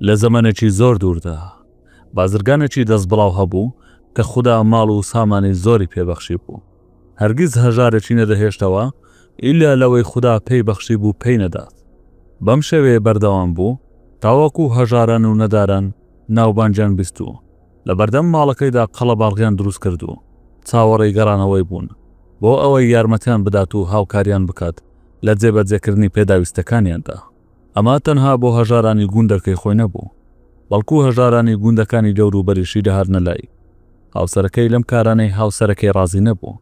لە زەمەنێکی زۆر دووردا، بازرگانێکی دەستبڵاو هەبوو کە خودا ماڵ و سامانی زۆری پێ بەخشیبوو. هەرگیز هەژارێکی نەدەهێشتەوە ئیلا لەوەی خودا پێی بەخشیبوو پێی نەدات. بەم شێوەیە بەردەوام بوو تاوەکو هەژاران و نەداران ناوبانگیان بیست و لە بەردەم ماڵەکەیدا قەڵەباغیان دروست کرد و چاوەڕێی گەڕانەوەی بوون بۆ ئەوەی یارمەتیان بدات و هاوکاریان بکات لە جێبەجێکردنی پێداویستەکانیاندا. ئەمە تەنها بۆ هەژارانی گوندەکەی خۆی نەبوو، بەڵکو هەژارانی گوندەکانی دەوروبەریشی دەهاتنە لای. هاوسەرەکەی لەم کارانەی هاوسەرەکەی ڕازی نەبوو.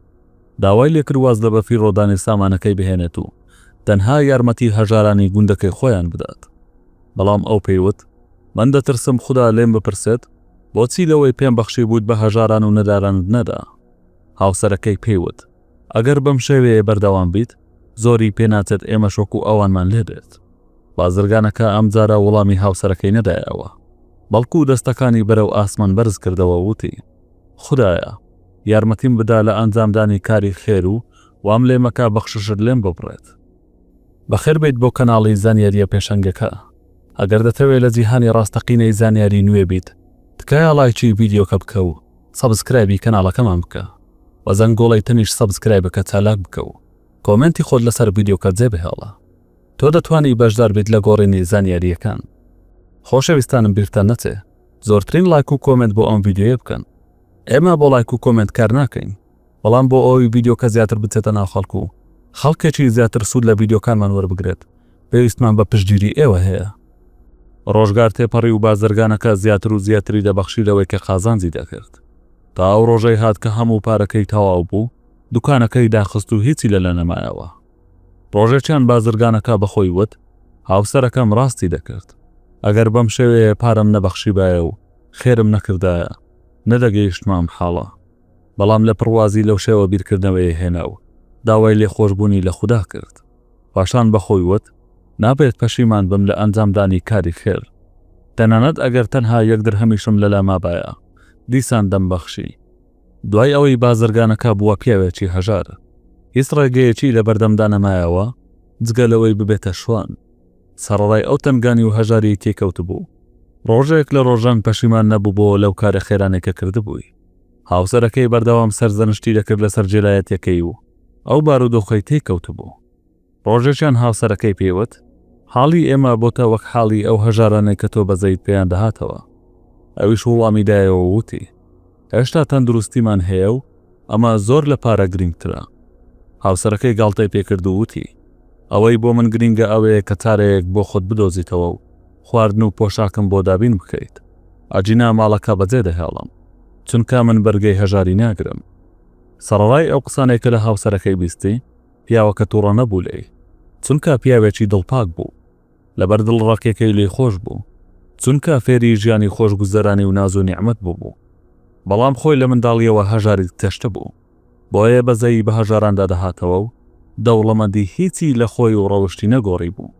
داوای لێکرد واز لە بەفیڕۆدانی سامانەکەی بهێنێت و تەنها یارمەتی هەژارانی گوندەکەی خۆیان بدات. بەڵام ئەو پێی وت، من دەترسم خودا لێم بپرسێت، بۆچی لەوەی پێم بەخشیبوویت بە هەژاران و نەدارانت نەدا؟ هاوسەرەکەی پێی وت، ئەگەر بەم شێوەیە بەردەوام بیت زۆری پێ ناچێت ئێمەش وەکو ئەوانمان لێ بێت. بازرگانەکە ئەم جارە وڵامی هاوسەرەکەی نەدایەوە، بەڵکو دەستەکانی بەرەو ئاسمان بەرز کردەوە و وتی، خودایە! یارمەتیم بدە لە ئەنجامدانی کاری خێر و وام لێ مەکە بەخششت لێم ببڕێت. بەخێر بێیت بۆ کەناڵی زانیارییە پێشەنگەکە. ئەگەر دەتەوێت لە جیهانی ڕاستەقینەی زانیاری نوێ بیت، تکایە ڵایکی ڤیدیۆکە بکە و سەبسکرایبی کەناڵەکەمان بکە و زەنگۆڵەی تەنیشت سەبسکرای بکە چالاک بکە و کۆمێنتی خۆت لەسەر ڤیدیۆکە جێ بهێڵە تۆ دەتوانی بەشدار بیت لە گۆڕینی زانیارییەکان خۆشەویستانم بیرتان نەچێ زۆرترین ڵایک و کۆمێنت بۆ ئەم ڤیدیۆیە بکەن ئێمە بۆ ڵایک و کۆمێنت کار ناکەین. بەڵام بۆ ئەوەی ڤیدیۆکە زیاتر بچێتە ناو خەڵک و خەڵکێکی زیاتر سوود لە ڤیدیۆکانمان وەربگرێت پێویستمان بە پشتگیری ئێوە هەیە. ڕۆژگار تێپەڕی و بازرگانەکە زیاتر و زیاتری دەبەخشی لەوەی کە قازانجی دەکرد. تا ئەو ڕۆژەی هات کە هەموو پارەکەی تەواو بوو، دوکانەکەی داخست و هیچی لەلا نەمایەوە. ڕۆژێکیان بازرگانەکە بە خۆی وت، هاوسەرەکەم ڕاستی دەکرد. ئەگەر بەم شێوەیە پارەم نەبەخشیبایە و خێرم نەکردایە، نەدەگەیشتمە ئەم حاڵە. بەڵام لە پڕوازی لەو شێوە بیرکردنەوەیەی هێنا و داوای لێخۆشبوونی لە خودا کرد. پاشان بە خۆی وت، نابێت پەشیمان بم لە ئەنجامدانی کاری خێر. تەنانەت ئەگەر تەنها یەک درهەمیشم لەلا مابایە، دیسان دەمبەخشی. دوای ئەوەی بازرگانەکە بووە پیاوێکی هەژار، هیچ ڕێگەیەکی لەبەردەمدا نەمایەوە جگە لەوەی ببێتە شوان. سەڕەرای ئەو تەنگانی و هەژاریی تێکەوتبوو، ڕۆژێک لە ڕۆژان پەشیمان نەبووبۆ لەو کارە خێرانەی کە کردبووی. هاوسەرەکەی بەردەوام سەرزەنشتی دەکرد لەسەر جێلایەتیەکەی و ئەو بارودۆخەی تێی کەوتبوو. ڕۆژێکیان هاوسەرەکەی پێیوت، حاڵی ئێمە بۆتە وەک حاڵی ئەو هەژارانەی کە تۆ بەزەیت پێیان دەهاتەوە. ئەویش وڵامی دایەوە و وتی، هێشتا تەندروستیمان هەیە و ئەمە زۆر لە پارە گرینگترە. هاوسەرەکەی گاڵتەی پێکرد و وتی، ئەوەی بۆ من گرینگە ئەوەیە کە چارەیەک بۆ خۆت بدۆزیتەوە و خواردن و پۆشاکم بۆ دابین بکەیت. ئەگینا ماڵەکە بەجێ دەهێڵم. چونکە من بەرگەی هەژاری ناگرم. سەڕەرای ئەو قسانەی کە لە هاوسەرەکەی بیستی، پیاوەکە توڕە نەبوو لێی. چونکە پیاوێکی دڵپاک بوو. لەبەر دڵڕەقیەکەی لێی خۆش بوو. چونکە فێری ژیانی خۆشگوزەرانی و ناز و نیعمەت بووبوو. بەڵام خۆی لە منداڵیەوە هەژاری تەشتبوو. بۆیە بەزەیی بە هەژاراندا دەهاتەوە و دەوڵەمەندی هیچی لە خۆی و ڕەوشتی نەگۆڕیبوو.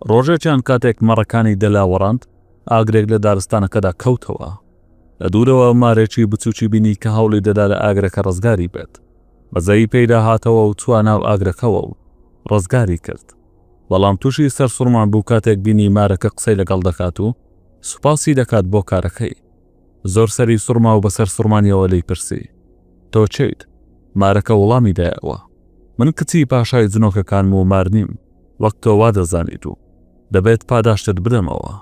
ڕۆژێکیان کاتێک مەڕەکانی دەلاوەڕاند، ئاگرێک لە دارستانەکەدا کەوتەوە. لە دوورەوە مارێکی بچووکی بینی کە هەوڵی دەدا لە ئاگرەکە ڕزگاری بێت. بەزەیی پێیدا هاتەوە و چووە ناو ئاگرەکەوە و ڕزگاری کرد. بەڵام تووشی سەرسوڕمان بوو کاتێک بینی مارەکە قسەی لەگەڵ دەکات و سوپاسی دەکات بۆ کارەکەی. زۆر سەری سوڕما و بەسەر سوڕمانیەوە لێی پرسی، تۆ چیت؟ مارەکە وڵامی دایەوە، من کچی پاشای جنۆکەکانم و مار نیم، وەک تۆ وا دەزانیت و دەبێت پاداشتت بدەمەوە.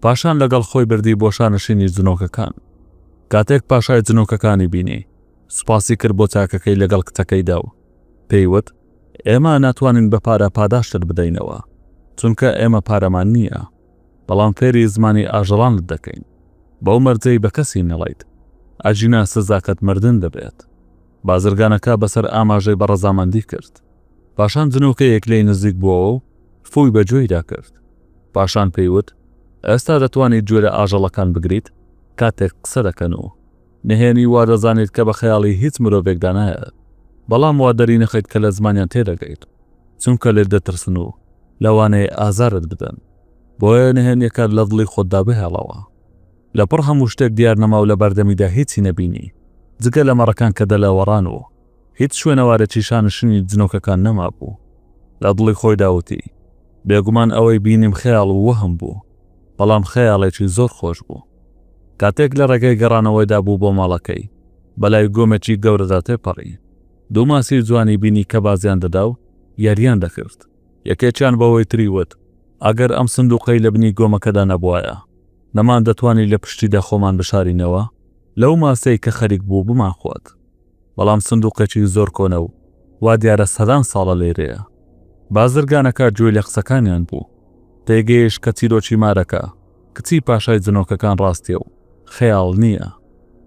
پاشان لەگەڵ خۆی بردی بۆ شانشینی جنۆکەکان. کاتێک پاشای جنۆکەکانی بینی، سوپاسی کرد بۆ چاکەکەی لەگەڵ کچەکەیدا و پێی وت، ئێمە ناتوانین بە پارە پاداشتت بدەینەوە، چونکە ئێمە پارەمان نییە. بەڵام فێری زمانی ئاژەڵانت دەکەین بەو مەرجەی بە کەسی نەڵێیت ئەگینا سزاکەت مردن دەبێت. بازرگانەکە بەسەر ئاماژەی بە ڕەزامەندی کرد. پاشان جنۆکەیەک لێی نزیک بووەوە و فووی بە گوێیدا کرد. پاشان پێی وت، ئێستا دەتوانیت گوێ لە ئاژەڵەکان بگریت کاتێک قسە دەکەن و. نهێنی وا دەزانیت کە بە خەیاڵی هیچ مرۆڤێکدا نایەت، بەڵام وا دەرینەخەیت کە لە زمانیان تێدەگەیت، چونکە لێت دەترسن و لەوانەیە ئازارت بدەن، بۆیە نهێنیەکەت لە دڵی خۆتدا بهێڵەوە. لە پڕ هەموو شتێک دیار نەما و لە بەردەمیدا هیچی نەبینی، جگە لە مەڕەکان کە دەلەوەڕان و هیچ شوێنەوارێکی شانشینی جنۆکەکان نەمابوو. لە دڵی خۆیدا وتی، بێگومان ئەوەی بینیم خەیاڵ و وەهم بوو، بەڵام خەیاڵێکی زۆر خۆش بوو. کاتێک لە ڕێگەی گەڕانەوەیدا بوو بۆ ماڵەکەی، بەلای گۆمێکی گەورەدا تێپەڕی. دوو ماسی جوانی بینی کە بازیان دەدا و یارییان دەکرد. یەکێکیان بەوەی تری وت، ئەگەر ئەم سندووقەی لە بنی گۆمەکەدا نەبوایە، نەماندەتوانی لە پشتیدا خۆمان بشارینەوە، لەو ماسەی کە خەریک بوو بمانخوات. بەڵام سندوقێکی زۆر کۆنە و وا دیارە سەدان ساڵە لێرەیە. بازرگانەکە گوێی لە قسەکانیان بوو. تێیگەیشت کە چیرۆکی مارەکە، کچی پاشای جنۆکەکان ڕاستیە و خەیاڵ نییە.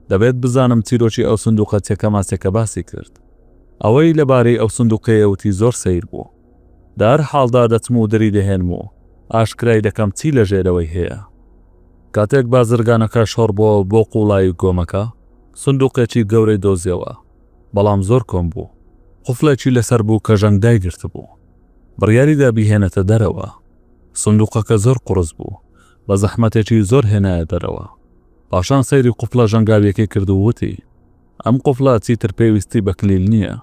دەبێت بزانم چیرۆکی ئەو سندوقە چەکەماچەکە باسی کرد. ئەوەی لەبارەی ئەو سندوقەیە وتی زۆر سەیر بوو. لە هەر حاڵدا دەچم و دری دەهێنم و ئاشکرای دەکەم چی لە ژێرەوەی هەیە. کاتێک بازرگانەکە شۆڕ بووە بۆ قوڵایی گۆمەکە، سندووقێکی گەورەی دۆزیەوە، بەڵام زۆر کۆن بوو، قفڵێکی لەسەر بوو کە ژەنگ دایگرتبوو. بڕیاری دا بیهێنێتە دەرەوە. سندووقەکە زۆر قوڕس بوو، بە زەحمەتێکی زۆر هێنایە دەرەوە. پاشان سەیری قفڵە ژەنگاوییەکەی کرد و وتی. ئەم قوفڵە چیتر پێویستی بە کلیل نییە.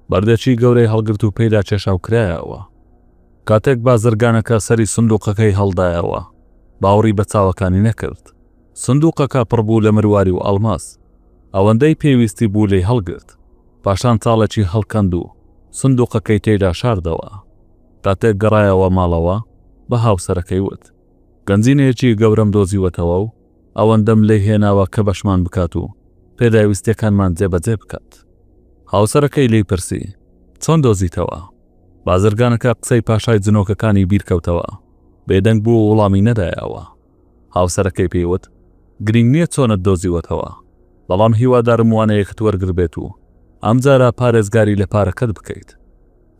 بەردێکی گەورەی هەڵگرت و پێیدا کێشا و کرایەوە. کاتێک بازرگانەکە سەری سندووقەکەی هەڵدایەوە، باوەڕی بە چاوەکانی نەکرد. سندووقەکە پڕ بوو لە مرواری و ئەڵماس. ئەوەندەی پێویستی بوو لێی هەڵگرت. پاشان چاڵێکی هەڵکەند و سندووقەکەی تێیدا شاردەوە. کاتێک گەڕایەوە ماڵەوە، بە هاوسەرەکەی وت. گەنجینەیەکی گەورەم دۆزیوەتەوە و ئەوەندەم لێ هێناوە کە بەشمان بکات و پێداویستییەکانمان جێبەجێ بکات. هاوسەرەکەی لێی پرسی، چۆن دۆزیتەوە؟ بازرگانەکە قسەی پاشای جنۆکەکانی بیرکەوتەوە، بێدەنگ بوو و وڵامی نەدایەوە. هاوسەرەکەی پێی وت، گرینگ نییە چۆنت دۆزیوەتەوە، بەڵام هیوادارم وانەیەکت وەرگربێت و ئەمجارە پارێزگاری لە پارەکەت بکەیت.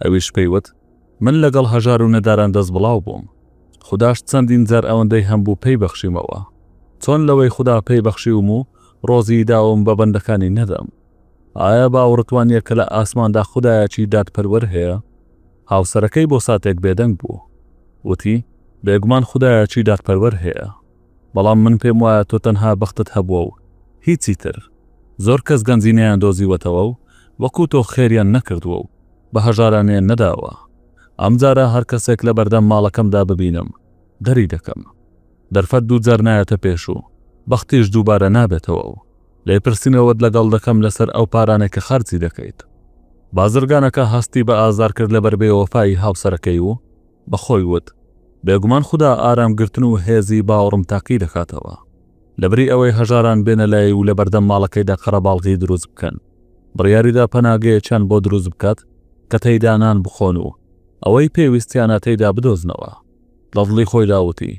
ئەویش پێی وت، من لەگەڵ هەژار و نەداران دەست بڵاو بووم. خوداش چەندین جار ئەوەندەی هەمبوو پێی بەخشیمەوە. چۆن لەوەی خودا پێی بەخشیوم و ڕۆزیی داوم بە بەندەکانی نەدەم؟ ئایا باوەڕت وانییە کە لە ئاسماندا خودایەکی دادپەروەر هەیە؟ هاوسەرەکەی بۆ ساتێک بێدەنگ بوو. وتی، بێگومان خودایەکی دادپەروەر هەیە. بەڵام من پێم وایە تۆ تەنها بەختت هەبووە و هیچی تر. زۆر کەس گەنجی نەیاندۆزیوەتەوە و وەکو تۆ خێریان نەکردووە و. بە هەژاران نێن نەداوە. ئەم جارە هەر کەسێک لە بەردەم ماڵەکەمدا ببینم، دەری دەکەم. دەرفەت دوو جار نایەتە پێش و بەختیش دووبارە نابێتەوە و لێپرسینەوەت لەگەڵ دەکەم لەسەر ئەو پارانەی کە خەرجی دەکەیت. بازرگانەکە هەستی بە ئازار کرد لەبەر بێوەفایی هاوسەرەکەی و بە خۆی وت، بێگومان خودا ئارامگرتن و هێزی باوەڕم تاقی دەکاتەوە. لەبری ئەوەی هەژاران بێنە لای و لە بەردەم ماڵەکەیدا قەرەباڵغی دروست بکەن بڕیاریدا پەناگەیەکیان بۆ دروست بکات کە تەیدا نان بخۆن و ئەوەی پێویستیانە تەیدا بدۆزنەوە لە دڵی خۆی داوتی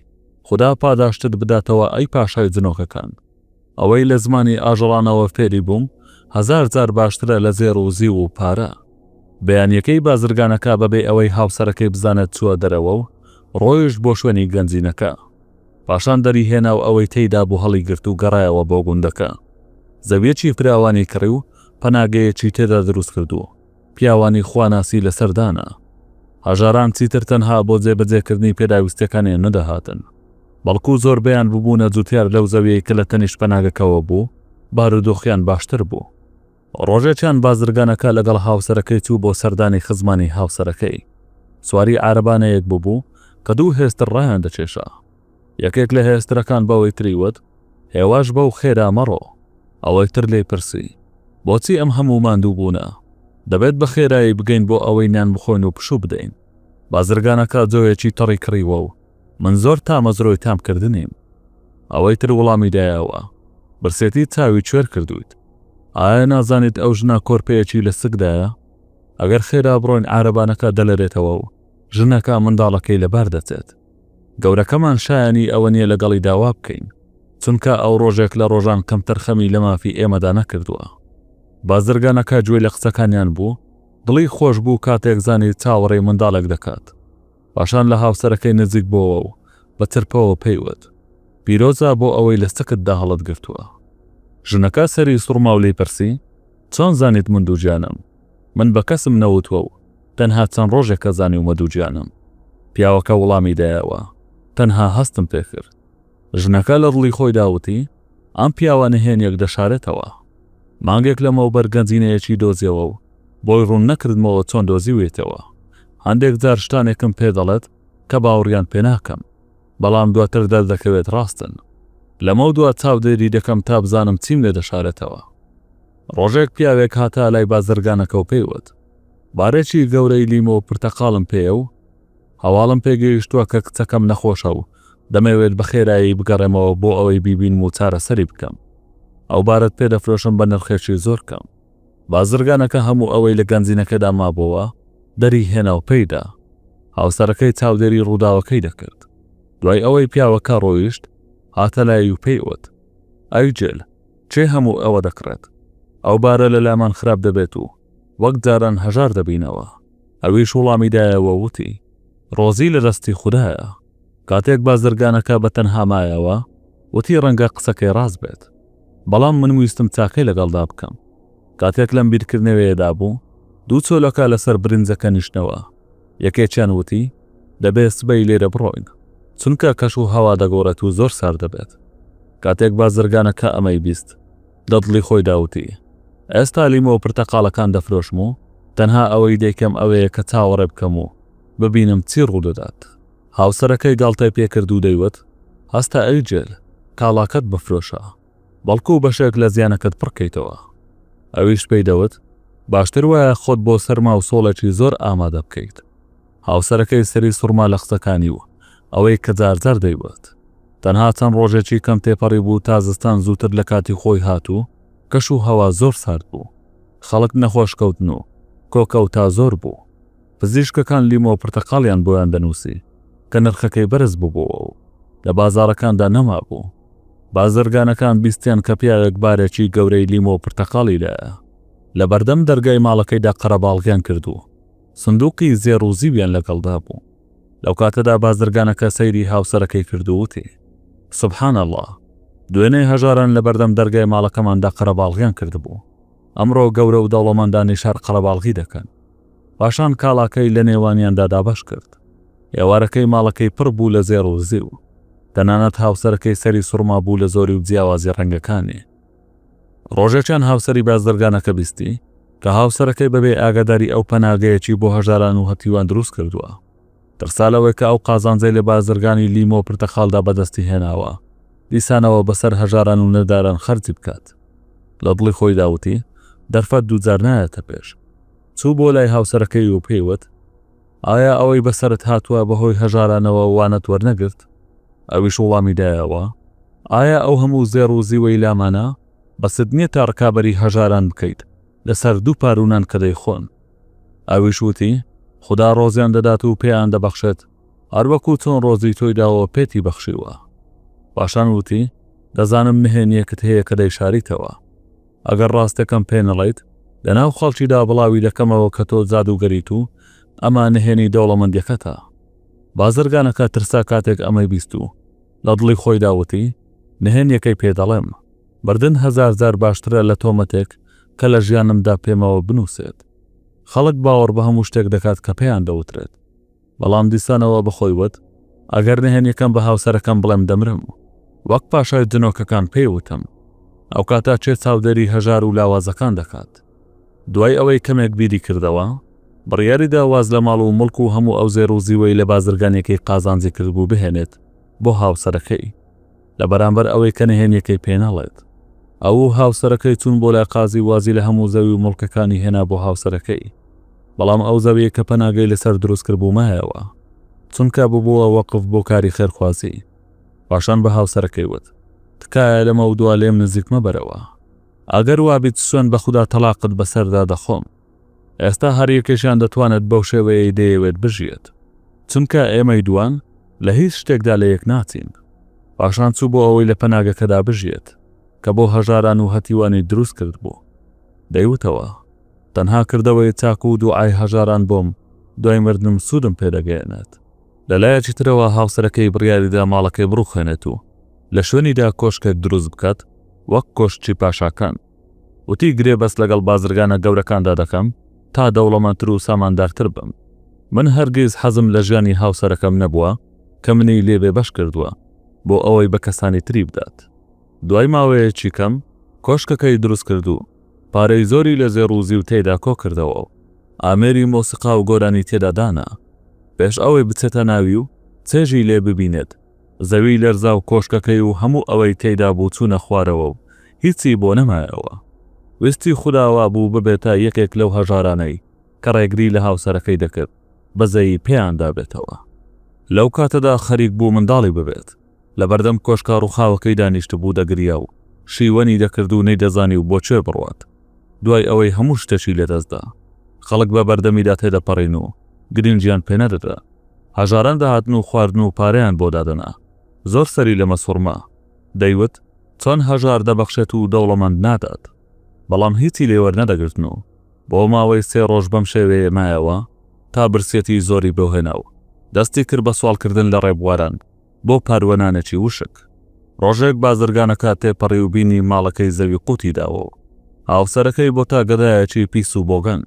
خدا پاداشتت بداتەوە ئەی پاشای جنۆکەکان ئەوەی لە زمانی ئاژەڵانەوە فێری بووم هزار جار باشترە لە زێر و زیو و پارە بەیانیەکەی بازرگانەکە بەبێ ئەوەی هاوسەرەکەی بزانێت چووە دەرەوە و ڕۆیشت بۆ شوێنی گەنجینەکە پاشان دەریهێنا و ئەوەی تێیدا بوو هەڵیگرت و گەڕایەوە بۆ گوندەکە. زەوییەکی فراوانی کڕی و پەناگەیەکی تێدا دروست کرد و پیاوانی خواناسی لەسەر دانا. هەژاران چیتر تەنها بۆ جێبەجێکردنی پێداویستییەکانیان نەدەهاتن، بەڵکو زۆربەیان ببوونە جووتیار لەو زەوییەی کە لە تەنیشت پەناگەکەوە بوو، بارودۆخیان باشتر بوو. ڕۆژێکیان بازرگانەکە لەگەڵ هاوسەرەکەی چوو بۆ سەردانی خزمانی هاوسەرەکەی. سواری عارەبانەیەک بووبوو کە دوو هێستر ڕایان دەکێشا. یەکێک لە هێسترەکان بەوەی تری وت، هێواش بەو خێرا مەڕۆ. ئەوەی تر لێی پرسی، بۆچی ئەم هەموو ماندووبوونە؟ دەبێت بە خێرایی بگەین بۆ ئەوەی نان بخۆین و پشوو بدەین. بازرگانەکە جۆیەکی تەڕی کڕیوە و من زۆر تامەزرۆی تام کردنیم. ئەوەی تر وڵامی دایەوە. برسێتی چاوی کوێر کردوویت. ئایا نازانیت ئەو ژنە کۆرپەیەکی لە سکدایە؟ ئەگەر خێرا بڕۆین عارەبانەکە دەلەرێتەوە و ژنەکە منداڵەکەی لەبار دەچێت. گەورەکەمان شایەنی ئەوە نییە لەگەڵیدا وا بکەین. چونکە ئەو ڕۆژێک لە ڕۆژان کەمتر خەمی لە مافی ئێمەدا نەکردووە. بازرگانەکە گوێی لە قسەکانیان بوو، دڵی خۆش بوو کاتێک زانی چاوەڕێی منداڵێک دەکات. پاشان لە هاوسەرەکەی نزیک بۆوە و بە ترپەوە پێی وت، پیرۆزە بۆ ئەوەی لە سکتدا هەڵت گرتووە. ژنەکە سەری سوڕما و لێی پرسی، چۆن زانیت من دووگیانم؟ من بە کەسم نەوتووە و تەنها چەند ڕۆژێکە زانیومە دووگیانم. پیاوەکە وڵامی دایەوە، تەنها هەستم پێ کرد. ژنەکە لە دڵی خۆیدا وتی، ئەم پیاوە نهێنییەک دەشارێتەوە. مانگێک لەمەوبەر گەنجینەیەکی دۆزیەوە و بۆی ڕوون نەکردمەوە چۆن دۆزیویەتەوە. هەندێک جار شتانێکم پێ دەڵێت کە باوەڕیان پێ ناکەم، بەڵام دواتر دەردەکەوێت ڕاستن. لەمەودوا چاودێری دەکەم تا بزانم چیم لێ دەشارێتەوە. ڕۆژێک پیاوێک هاتە لای بازرگانەکە و پێی وت، بارێکی گەورەی لیمۆ و پرتەقاڵم پێیە و، هەواڵم پێگەیشتووە کە کچەکەم نەخۆشە و دەمەوێت بە خێرایی بگەڕێمەوە بۆ ئەوەی بیبینم و چارەسەری بکەم. ئەو بارەت پێ دەفرۆشم بە نرخێکی زۆر کەم. بازرگانەکە هەموو ئەوەی لە گەنجینەکەدا مابۆوە دەری هێنا و پێی دا. هاوسەرەکەی چاودێری ڕووداوەکەی دەکرد. دوای ئەوەی پیاوەکە ڕۆیشت، هاتە لای و پێی وت، ئەی جل، کێ هەموو ئەوە دەکڕێت؟ ئەو بارە لەلامان خراپ دەبێت و وەک جاران هەژار دەبینەوە. ئەویش وڵامی دایەوە وتی، ڕۆزی لە دەستی خودایە. کاتێک بازرگانەکە بە تەنها مایەوە، وتی ڕەنگە قسەکەی ڕاست بێت. بەڵام من ویستم چاکەی لەگەڵدا بکەم. کاتێک لەم بیرکردنەوەیەدا بوو، دوو چۆلەکە لەسەر برنجەکە نیشتنەوە. یەکێکیان وتی، دەبێت سبەی لێرە بڕۆین، چونکە کەش و هەوا دەگۆڕێت و زۆر سارد دەبێت. کاتێک بازرگانەکە ئەمەی بیست، دڵی خۆیدا وتی، ئێستا لیمۆ و پرتەقاڵەکان دەفرۆشم و تەنها ئەوەی دەیکەم ئەوەیە کە چاوەڕێ بکەم و ببینم چی ڕوودەدات. هاوسەرەکەی گاڵتەی پێکرد و دەیوت، هەستە ئەی جل، کاڵاکەت مەفرۆشە، بەڵکو بەشێک لە زیانەکەت پڕکەیتەوە. ئەویش پێی دەوت، باشتر وایە خۆت بۆ سەرما و سۆڵێکی زۆر ئامادە بکەیت. هاوسەرەکەی سەری سوڕما لە قسەکانی و ئەوەی کە جار جار دەیوت. تەنها چەند ڕۆژێکی کەم تێپەڕیبوو تا زستان زووتر لە کاتی خۆی هات و کەش و هەوا زۆر سارد بوو. خەڵک نەخۆش کەوتن و کۆکەوتا زۆر بوو. پزیشکەکان لیمۆ و پرتەقاڵیان بۆیان دەنووسی کە نرخەکەی بەرز ببۆوە و لە بازاڕەکاندا نەمابوو. بازرگانەکان بیستیان کە پیاوێک بارێکی گەورەی لیمۆ و پرتەقاڵی لایە. لە بەردەم دەرگای ماڵەکەیدا قەرەباڵغیان کرد و سندووقی زێڕ و زیویان لەگەڵدا بوو. لەوکاتەدا بازرگانەکە سەیری هاوسەرەکەی کرد و وتی، سبحان اللە! دوێنێ هەژاران لەبەردەم دەرگای ماڵەکەماندا قەرەباڵغیان کردبوو، ئەمڕۆ گەورە و دەوڵەمەندانی شار قەرەباڵغی دەکەن. پاشان کاڵاکەی لەنێوانیاندا دابەش کرد. ئێوارەکەی ماڵەکەی پڕ بوو لە زێڕ و زیو. تەنانەت هاوسەرەکەی سەری سوڕمابوو لە زۆری و جیاوازی ڕەنگەکانی. ڕۆژێکیان هاوسەری بازرگانەکە بیستی کە هاوسەرەکەی بەبێ ئاگاداری ئەو پەناگەیەکی بۆ هەژاران و هەتیوان دروست کردووە. ترسا لەوەی کە ئەو قازانجەی لە بازرگانی لیمۆ و پرتەقاڵدا بەدەستی هێناوە، دیسانەوە بەسەر هەژاران و نەداران خەرجی بکات. لە دڵی خۆیدا وتی، دەرفەت دووجار نایەتە پێش. چوو بۆ لای هاوسەرەکەی و پێی وت، ئایا ئەوەی بەسەرت هاتووە بەهۆی هەژارانەوە وانەت وەرنەگرت؟ ئەویش وڵامی دایەوە، ئایا ئەو هەموو زێڕ و زیوەی لامانە، بەست نییە تا ڕکابەری هەژاران بکەیت لەسەر دوو پارو نان کە دەیخۆن؟ ئەویش وتی، خودا ڕۆزیان دەدات و پێیان دەبەخشێت، هەروەکو چۆن ڕۆزی تۆی داوە پێتی بەخشیوە. پاشان وتی، دەزانم نهێنییەکت هەیە کە دەیشاریتەوە. ئەگەر ڕاستەکەم پێنەڵێیت لەناو خەڵکیدا بڵاوی دەکەمەوە کە تۆ جادووگەریت و ئەمە نهێنی دەوڵەمەندیەکەتە. بازرگانەکە ترسا کاتێک ئەمەی بیست و لە دڵی خۆیدا وتی، نهێنیەکەی پێ دەڵێم. مردن هەزار جار باشترە لە تۆمەتێک کە لە ژیانمدا پێمەوە بنووسێت. خەڵک باوەڕ بە هەموو شتێک دەکات کە پێیان دەوترێت. بەڵام دیسانەوە بە خۆی وت، ئەگەر نهێنییەکەم بە هاوسەرەکەم بڵێم دەمرم. وەک پاشای جنۆکەکان پێی وتم، ئەو کاتە کێ چاودێری هەژار و لاوازەکان دەکات؟ دوای ئەوەی کەمێک بیری کردەوە، بڕیاری دا واز لە ماڵ و موڵک و هەموو ئەو زێر و زیوەی لە بازرگانییەکەی قازانجی کردبوو بهێنێت بۆ هاوسەرەکەی. لە بەرامبەر ئەوەی کە نهێنیەکەی پێ نەڵێت. ئەوو هاوسەرەکەی چوون بۆ لای قازی وازی لە هەموو زەوی و موڵکەکانی هێنا بۆ هاوسەرەکەی. بەڵام ئەو زەویەی کە پەناگەی لە سەر دروست کربوو مایەوە. چونکە ببووە وەقف بۆ کاری خێرخوازی. پاشان بە هاوسەرەکەی وت، تکایە لەمەودوا لێم نزیک مەبەرەوە. ئەگەر وابیت سوێند بە خودا تەڵاقت بەسەردا دەخۆم. ئێستا هەر یەکێکیان دەتوانێت بەو شێوەیەی دەیەوێت بژیێت. چونکە ئێمەی دووان لە هیچ شتێکدا لە یەک ناچین. پاشان چوو بۆ ئەوەی لە پەناگەکەدا بژیێت، کە بۆ هەژاران و هەتیوانی دروست کردبوو. دەیوتەوە، تەنها کردەوەی چاک و دووعای هەژاران بۆم دوای مردنم سوودم پێ دەگەیەنێت. لە لایەکی ترەوە هاوسەرەکەی بڕیاریدا ماڵەکەی بڕووخێنێت و لە شوێنیدا کۆشکێک دروست بکات وەک کۆشکی پاشاکان. وتی، گرێبەست لەگەڵ بازرگانە گەورەکاندا دەکەم تا دەوڵەمەندتر و ساماندارتر بم. من هەرگیز حەزم لە ژیانی هاوسەرەکەم نەبووە کە منی لێ بێبەش کردووە بۆ ئەوەی بە کەسانی تری بدات. دوای ماوەیەکی کەم کۆشکەکەی دروست کرد و پارەی زۆری لە زێڕ و زیو تێیدا کۆ کردەوە و ئامێری مۆسیقا و گۆرانی تێدا دانا. پێش ئەوەی بچێتە ناوی و چێژی لێ ببینێت، زەوی لەرزا و کۆشکەکەی و هەموو ئەوەی تێیدا بوو چوونە خوارەوە و هیچی بۆ نەمایەوە. ویستی خودا وا بوو ببێتە یەکێک لەو هەژارانەی کە ڕێگری لە هاوسەرەکەی دەکرد بەزەیی پێیان دابێتەوە. لەو کاتەدا خەریک بوو منداڵی ببێت. لە بەردەم کۆشکە ڕووخاوەکەی دانیشتبوو دەگریا و شیوەنی دەکرد و نەیدەزانی و بۆ کوێ بڕوات. دوای ئەوەی هەموو شتێکی لەدەستدا. خەڵک بە بەردەمیدا تێدەپەڕین و گرینگیان پێنەدەدا. هەژاران دەهاتن و خواردن و پارەیان بۆ دادەنا. زۆر سەری لەمە سوڕما. دەیوت، چۆن هەژار دەبەخشێت و دەوڵەمەند نادات؟ بەڵام هیچی لێ وەرنەدەگرتن و بۆ ماوەی سێ ڕۆژ بەم شێوەیە مایەوە تا برسیەتی زۆری بۆ هێنا و دەستی کرد بە سواڵکردن لە ڕێبواران بۆ پاروەنانێکی وشک. ڕۆژێک بازرگانەکە تێپەڕی و بینی ماڵەکەی زەوی قووتی داوە و هاوسەرەکەی بۆتە گەدایەکی پیس و بۆگەن.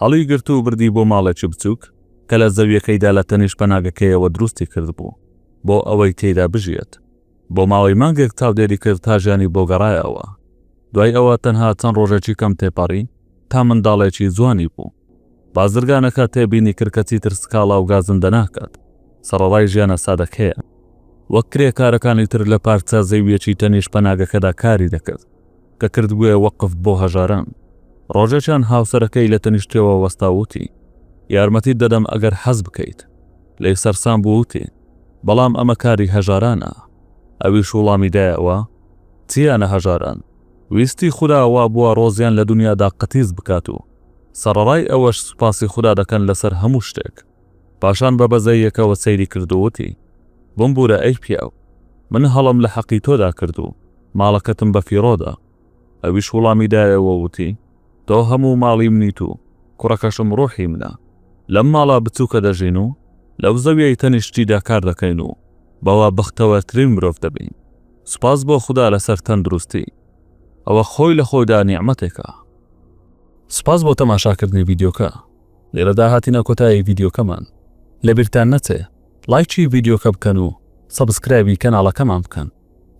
هەڵیگرت و بردی بۆ ماڵێکی بچووک کە لە زەوییەکەیدا لە تەنیشت پەناگەکەیەوە دروستی کردبوو بۆ ئەوەی تێیدا بژیێت. بۆ ماوەی مانگێک چاودێری کرد تا ژیانی بۆ گەڕایەوە. دوای ئەوە تەنها چەند ڕۆژێکی کەم تێپەڕی تا منداڵێکی جوانی بوو. بازرگانەکە تێبینی کرد کە چیتر سکاڵا و گازندە ناکات، سەڕەڕای ژیانە سادەکەیە. وەک کرێکارەکانی تر لە پارچە زەوییەکی تەنیشت پەناگەکەدا کاری دەکرد. کە کردبوویە وەقف بۆ هەژاران. ڕۆژێکیان هاوسەرەکەی لە تەنیشتیەوە وەستا و وتی، یارمەتیت دەدەم ئەگەر حەز بکەیت. لێی سەرسام بوو و وتی، بەڵام ئەمە کاری هەژارانە. ئەویش وڵامی دایەوە، چییانە هەژاران؟ ویستی خودا وا بووە ڕۆزیان لە دونیادا قەتیس بکات و سەڕەڕای ئەوەش سوپاسی خودا دەکەن لەسەر هەموو شتێک. پاشان بە بەزەییەکەوە سەیری کرد و وتی، بمبورە ئەی پیاو، من هەڵەم لە حەقی تۆدا کرد و ماڵەکەتم بە فیڕۆ دا. ئەویش وڵامی دایەوە و وتی، تۆ هەموو ماڵی منیت و کوڕەکەشم ڕووحی منە. لەم ماڵە بچووکە دەژین و لەو زەوییەی تەنیشتیدا کار دەکەین و بەوە بەختەوەرترین مرۆڤ دەبین. سوپاس بۆ خودا لەسەر تەندروستی. ئەوە خۆی لە خۆیدا نیعمەتێکە. سوپاس بۆ تەماشاکردنی ڤیدیۆکە. لێرەدا هاتینە کۆتایی ڤیدیۆکەمان لەبیرتان نەچێ ڵایکی ڤیدیۆکە بکەن و سەبسکرایبی کەناڵەکەمان بکەن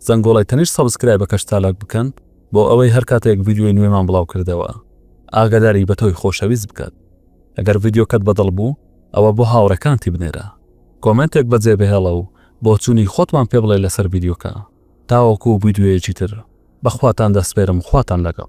زەنگۆڵەی تەنیشت سەبسکرایبەکەش چالاک بکەن بۆ ئەوەی هەر کاتێک ڤیدیۆی نوێمان بڵاو کردەوە ئاگاداری بە تۆی خۆشەویست بکات ئەگەر ڤیدیۆکەت بەدڵ بوو ئەوە بۆ هاوڕێکانتی بنێرە کۆمنتێک بەجێ بهێڵە و بۆچوونی خۆتمان پێ بڵێ لەسەر ڤیدیۆکە تاوەکو ڤیدیۆیەکی تر بەخواتان دەسپێرم خواتان لەگەڵ